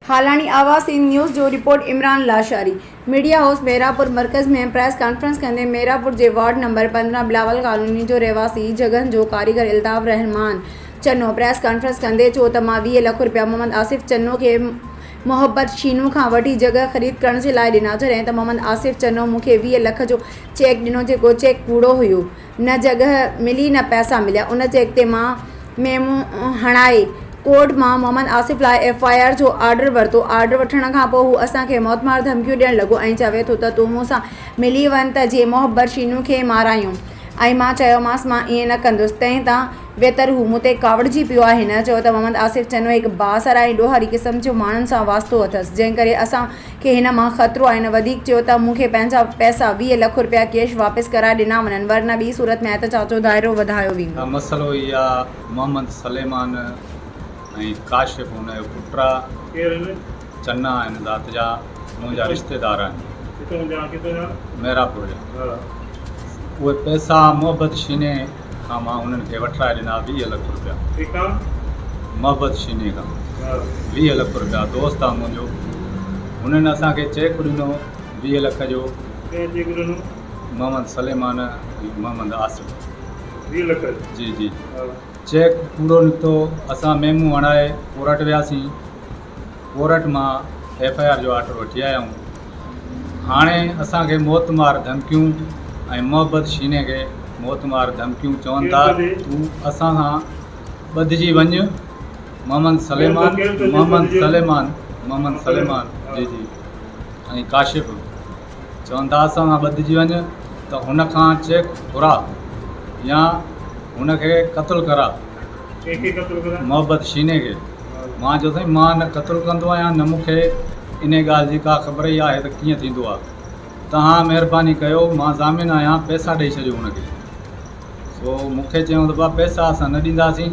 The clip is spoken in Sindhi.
هالاڻي آواز سنڌ نيوز جو report Imran Lashari media house Mehrabpur مرڪز ۾ پريس ڪانفرنس ڪندي مهراپور جي وارڊ نمبر پندرهن بلاول ڪالوني جو رهواسي جڳهن جو ڪاريگر الطاف الرحمان چنو پريس ڪانفرنس ڪندي چيو ته مان ويهه لک رپيا محمد آصف چنو کي محبت شينو کان وٺي جڳهه خريد ڪرڻ جي لاء ڏنا جڏهن ته محمد آصف چنو مون کي ويهه لک جو چيڪ ڏنو جيڪو چيڪ ڪوڙو هيو نه جڳهه ملي نه پئسا مليا ان چيڪ تي مان ميمو هڻائي ڪورٽ مان محمد آصف لاء ايف آء آر جو آرڊر ورتو آرڊر وٺڻ کان پوء هو اسان کي موت مار ڌمڪيون ڏيڻ لڳو ۽ چوي ٿو ته تون مون سان ملي وڃ ته جي محبت شينو کي مارايون ۽ مان چيومانس مان ائين نه ڪندس تنهن تان ويتر هو مون تي ڪاوڙجي پيو آهي هن چيو ته محمد آصف چنو هڪ بااثر ۽ ڏوهاري قسم جو ماڻهن سان واسطو اٿس جنهن ڪري اسان کي هن مان خطرو آهي هن وڌيڪ چيو ته مون کي پنهنجا پئسا ويهه لک رپيا ڪيش واپس ڪرائي ڏنا وڃن ورنه ٻي صورت ۾ احتجاج جو دائرو وڌايو ويندو. مسئلو هي آ محمد سليمان ۽ ڪاشف ان جو پٽ آ چنا هن ذات جا منهنجا رشتيدار آهن ميرا پور جا اهي پئسا محبت شيني کان مان انهن کي وٺرائي ڏنا ويهه لک روپيا. ڪيکان؟ محبت شيني کان ويهه لک روپيا دوست آ منهنجو. هنن اسان کي چيڪ ڏنو ويهه لک جو. ڪنهن چيڪ ڏنو؟ محمد سليمان ۽ محمد عاصم. ويهه لک جو؟ جي جي. چيڪ پورو نڪتو. اسان ميمون هڻائي ڪورٽ وياسين. ڪورٽ مان ايف آء آر جو آرڊر وٺي آيا آهيون هاڻي اسان کي موت مار ڌمڪيون ۽ محبت شيني کي موت مار ڌمڪيون چون ٿا تون اسان سان ٻڌجي وڃ محمد سليمان محمد سليمان محمد سليمان جي جي ۽ ڪاشف چون ٿا اسان سان ٻڌجي وڃ ته هن کان چيڪ گهرا يا هن کي قتل ڪرا محبت شيني کي مان چيو سائين مان نه قتل ڪندو آهيان نه مون کي انهي ڳالهه جي ڪا خبر ئي آهي ته ڪيئن ٿيندو آهي توهان مهرباني ڪيو مان ضامن آهيان پئسا ڏئي ڇڏيو هن کي سو مون کي چيائون ته بابا پئسا اسان نه ڏينداسين